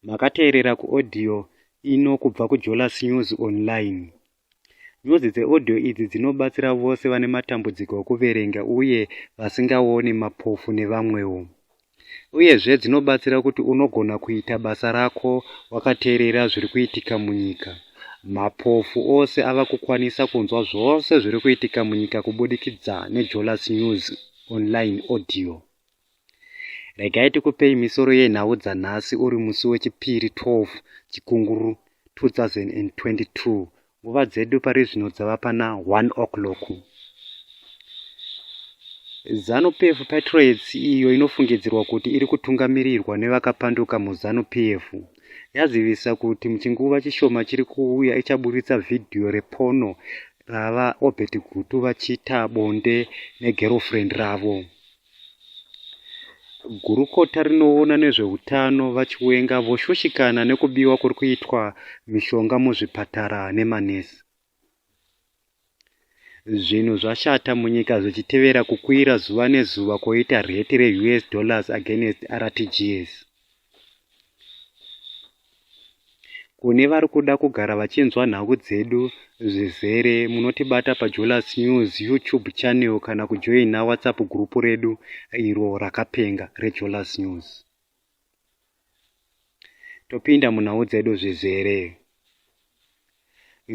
makateerera kuaudio ino kubva kujolas news online nyuzi dzeaudio idzi dzinobatsira vose vane matambudziko okuverenga uye vasingaoni mapofu nevamwewo uyezve dzinobatsira kuti unogona kuita basa rako wakateerera zviri kuitika munyika mapofu ose ava kukwanisa kunzwa zvose zviri kuitika munyika kubudikidza nejolas news online audio Regai tikupei misoro yenhau dzanhasi uri musi weChipiri 12 Chikunguru 2022. Nguva dzedu pari zvino dzava pana 1 o'clock. Zanu PF Patriots iyo inofungidzirwa kuti iri kutungamirirwa nevakapanduka muZanu PF yazivisa kuti muchinguva chishoma chiri kuuya ichaburitsa vhidhiyo repono rava Obert Gutu vachiita bonde negerofrendi ravo. Gurukota rinoona nezvehutano VaChiwenga voshushikana nekubiwa kuri kuitwa mishonga muzvipatara nemanesi. Zvinhu zvashata munyika zvichitevera kukwira zuva nezuva koita rheti reUS dollars against RTGS. kune vari kuda kugara vachinzwa nhau dzedu zvizere munotibata pajolas news youtube channel kana kujoina whatsapp group redu iro rakapenga rejolas news topinda munhau dzedu zvizere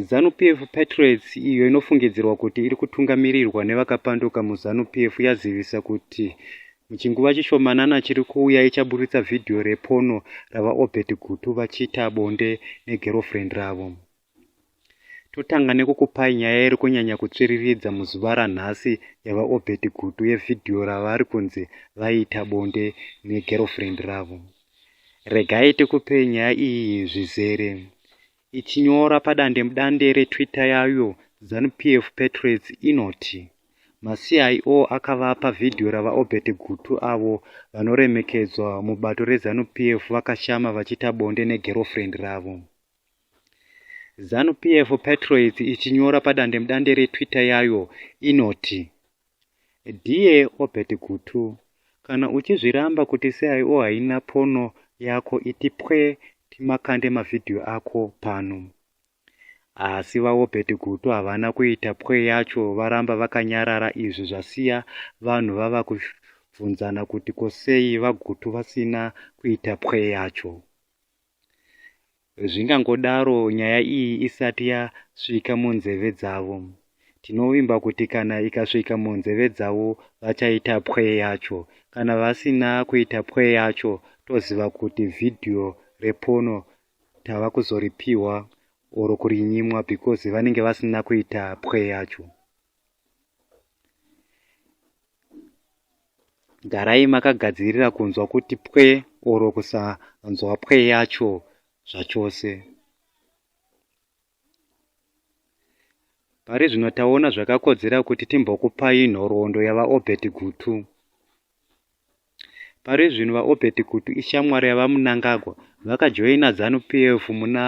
Zanu-PF Patriots, iyo inofungidzirwa kuti iri kutungamirirwa nevakapanduka muZanu-PF, yazivisa kuti muchinguva chishomanana chiri kuuya ichaburitsa vhidhiyo repono raVaObert Gutu vachiita bonde negerofurendi ravo. Totanga nekukupai nyaya iri kunyanya kutsviriridza muzuva ranhasi yaVaObert Gutu yevhidhiyo ravari kunzi vaiita bonde negerofurendi ravo. Regai tikupe nyaya iyi zvizere. Ichinyora padandemudande reTwitter yayo, ZanuPF Patriots inoti maCIO akavapa vhidhiyo raVaObert Gutu avo vanoremekedzwa mubato reZanuPF vakashama vachiita bonde neGirlfriend ravo. ZanuPF Patriots ichinyora padandemudande reTwitter yayo inoti Dear Obert Gutu, kana uchizviramba kuti CIO haina phono yako iti pwe timakande mavideo ako pano. Asi vaObert Gutu havana kuita pwe yacho varamba vakanyarara izvi zvasiya vanhu vava kubvunzana kuti ko sei vaGutu vasina kuita pwe yacho. Zvingangodaro nyaya iyi isati yasvika munzeve dzavo. Tinovimba kuti kana ikasvika munzeve dzavo vachaita pwe yacho. Kana vasina kuita pwe yacho toziva kuti vhidhiyo repono tava kuzoripihwa or kurinyimwa because vanenge vasina kuita pwe yacho. garai makagadzirira kunzwa kuti pwe oro kusanzwa pwe yacho zvachose pari zvino taona zvakakodzera kuti timbokupai nhoroondo yavaobert gutu Pari zvino VaObert Kutu ishamwari yaVaMnangagwa vakajoina Zanu PF muna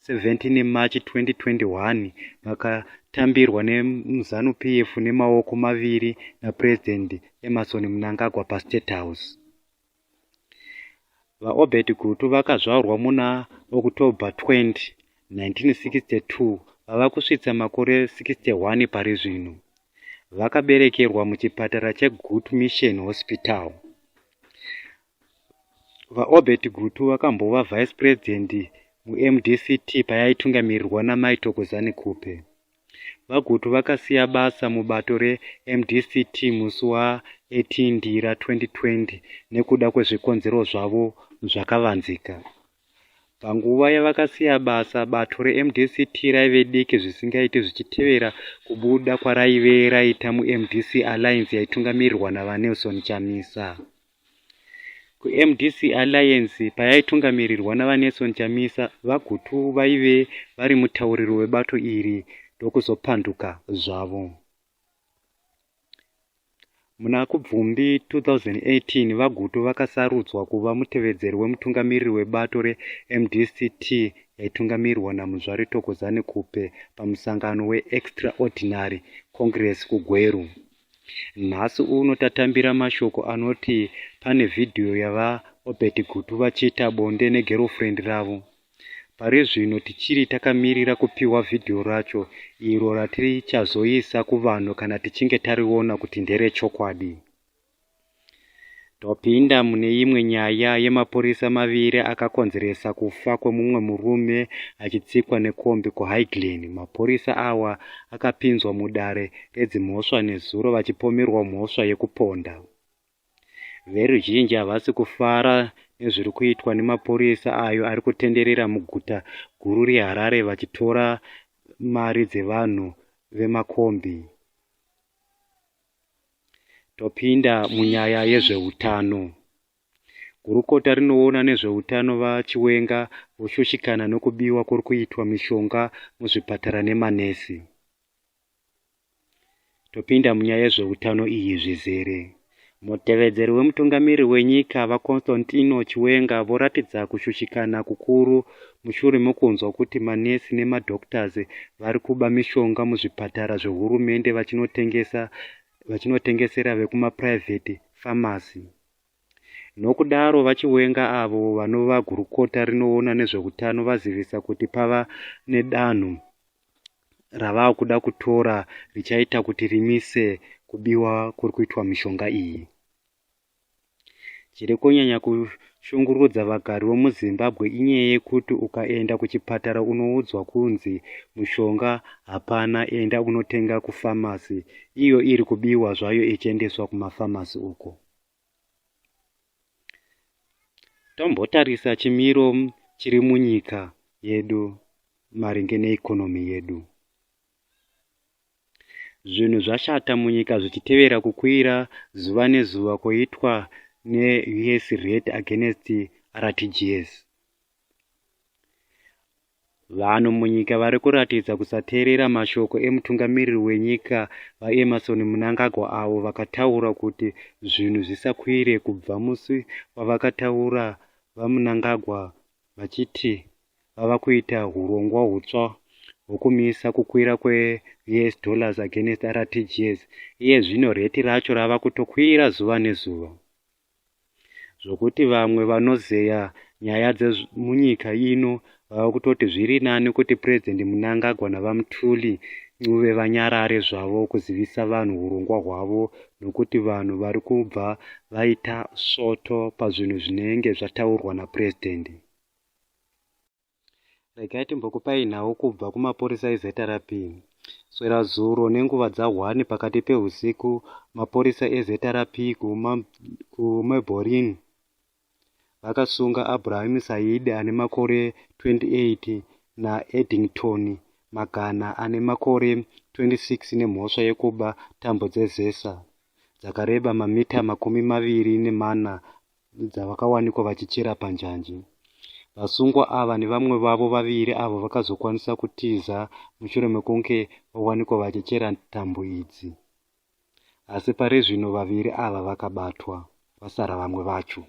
17 March 2021 vakatambirwa nemuZanu PF nemaoko maviri naPresident Emmerson Mnangagwa paState House. VaObert Gutu vakazvaurwa muna October 20, 1962 vava kusvitsa makore 61 pari zvino. Vakaberekerwa muchipatara cheGutu Mission Hospital. VaObert Gutu vakambova vice president muMDCT payaitungamirirwa naMai Thokozani Khupe. VaGutu vakasiya basa mubato reMDCT musi wa 18 Ndira 2020 nekuda kwezvikonzero zvavo zvakavanzika. Panguva yavakasiya basa, bato reMDCT raive diki zvisingaiti zvichitevera kubuda kwaraive raita muMDC Alliance yaitungamirirwa naVaNelson Chamisa. kuMDC Alliance payaitungamirirwa naVaNelson Chamisa, VaGutu vaive vari mutauriri webato iri ndokuzopanduka zvavo. Muna Kubvumbi 2018, VaGutu vakasarudzwa kuva mutevedzeri wemutungamiriri webato reMDCT yaitungamirwa naMuzvare Thokozani Khupe pamusangano weExtraordinary Congress kuGweru Nhasi uno tatambira mashoko anoti pane vhidhiyo yaVaObert Gutu vachiita bonde negerofurendi ravo. Pari zvino tichiri takamirira kupiwa vhidhiyo racho iro ratichazoisa kuvanhu kana tichinge tariona kuti nderechokwadi. Topinda mune imwe nyaya yemapurisa maviri akakonzeresa kufa kwemumwe murume achitsikwa nekombi kuHighglen. Mapurisa awa akapinzwa mudare redzimhosva nezuro vachipomerwa mhosva yekuponda. Veruzhinji havasi kufara nezviri kuitwa nemapurisa ayo ari kutenderera muguta guru reHarare vachitora mari dzevanhu vemakombi. Topinda munyaya yezveutano. Gurukota rinoona nezveutano VaChiwenga voshushikana nokubiwa kuri kuitwa mishonga muzvipatara nemanesi. Topinda munyaya yezveutano iyi zvizere. Mutevedzeri wemutungamiri wenyika VaConstantino Chiwenga voratidza kushushikana kukuru mushure mekunzwa kuti manesi nemadoctors vari kuba mishonga muzvipatara zvehurumende vachinotengesa vachinotengesera vekumapuraivheti famasi nokudaro vachiwenga avo vanova gurukota rinoona nezveutano vazivisa kuti pava nedanho ravava kuda kutora richaita kuti rimise kubiwa kuri kuitwa mishonga iyi Chiri kunyanya kushungurudza vagari vemuZimbabwe inyaya yekuti ukaenda kuchipatara unoudzwa kunzi mushonga hapana enda unotenga kufamasi iyo iri kubiwa zvayo ichiendeswa kumafamasi uko. Tombotarisa chimiro chiri munyika yedu maringe neikonomi yedu. Zvinhu zvashata munyika zvichitevera kukwira zuva nezuva koitwa neUS rate against RTGS. Vanhu munyika vari kuratidza kusateerera mashoko emutungamiriri wenyika VaEmmerson Mnangagwa avo vakataura kuti zvinhu zvisakwire kubva musi wavakataura VaMnangagwa vachiti vava kuita hurongwa hutsva hwokumisa kukwira kweUS dollars against RTGS. Iye zvino rheti racho rava kutokwira zuva nezuva zvokuti vamwe vanozeya nyaya dzemunyika ino vava kutoti zviri nani kuti Purezidhendi Mnangagwa naVaMthuli Ncube vanyarare zvavo kuzivisa vanhu hurongwa hwavo nokuti vanhu vari kubva vaita svoto pazvinhu zvinenge zvataurwa napurezidhendi. regai timbokupai nhau kubva kumapurisa ezrp swera zuro nenguva dzahwani pakati peusiku mapurisa ezrp kumeborin vakasunga abraham saidi ane makore 28 naeddington magana ane makore 26 nemhosva yekuba tambo dzezesa dzakareba mamita makumi maviri nemana dzavakawanikwa vachichera panjanji. Vasungwa ava nevamwe vavo vaviri avo vakazokwanisa kutiza mushure mekunge vawanikwa vachichera tambo idzi. Asi pari zvino vaviri ava vakabatwa, vasara vamwe vacho.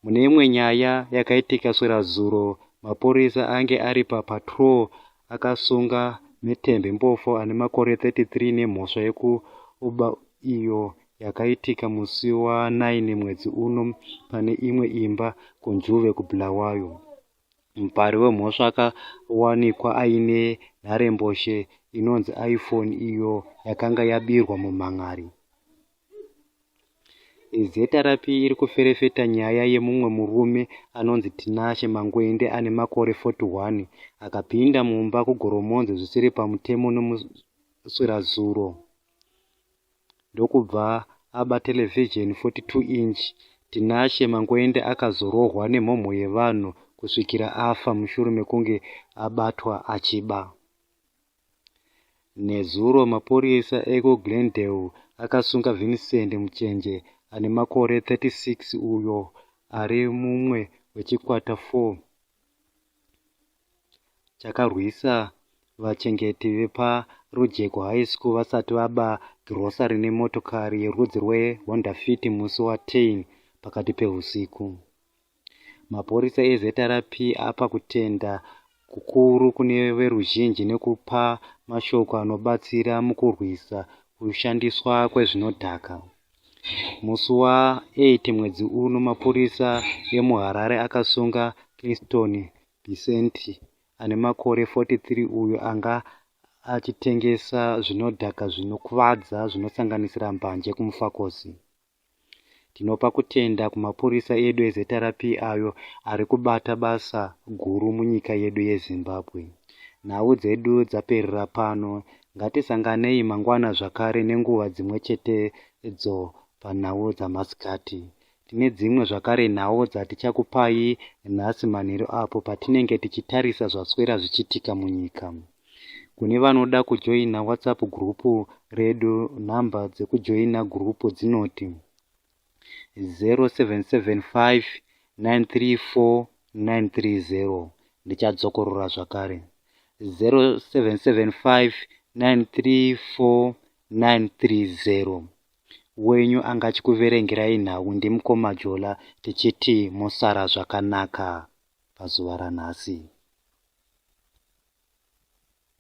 Mune imwe nyaya yakaitika swera zuro, mapurisa ange ari papatrol akasunga Metembe Mpofu ane makore 33 nemhosva yekuba iyo yakaitika musi wa 9 mwedzi uno pane imwe imba kuNjuve kuBulawayo. Mupari wemhosva akawanikwa aine nharembozhe inonzi iPhone iyo yakanga yabirwa mumhan'ari. ZRP iri kuferefeta nyaya yemumwe murume anonzi Tinashe Mangwende ane makore 41 akapinda mumba kuGoromonzi zvisiri pamutemo nemuswirazuro. ndokubva aba terevhizheni 42 inch, Tinashe Mangoende akazorohwa nemhomho yevanhu kusvikira afa mushure mekunge abatwa achiba. Nezuro mapurisa ekuGlendale akasunga Vincent Muchenje ane makore 36 uyo ari mumwe wechikwata 4 chakarwisa vachengeti vepaRujeko High School vasati vaba girosari nemotokari yerudzi rweHonda Fit musi waTein pakati pehusiku. Mapurisa eZRP apa kutenda kukuru kune veruzhinji nekupa mashoko anobatsira mukurwisa kushandiswa kwezvinodhaka. Musi wa8 mwedzi uno mapurisa emuHarare akasunga Clinton Bisenti, ane makore 43 uyo anga achitengesa zvinodhaka zvinokuvadza zvinosanganisira mbanje kuMufakosi. Tinopa kutenda kumapurisa edu eZRP ayo ari kubata basa guru munyika yedu yeZimbabwe. Nhau dzedu dzaperera pano, ngatisanganei mangwana zvakare nenguva dzimwe chetedzo panhau dzamasikati, Tine dzimwe zvakare nhau dzatichakupai nhasi manheru apo patinenge tichitarisa zvaswera zvichitika munyika. Kune vanoda kujoina WhatsApp group redu nhamba dzekujoina group dzinoti 0775 934930 ndichadzokorora zvakare 0775934930 wenyu angachikuverengerai nhau ndimukoma Jola tichiti mosara zvakanaka pazuva ranhasi.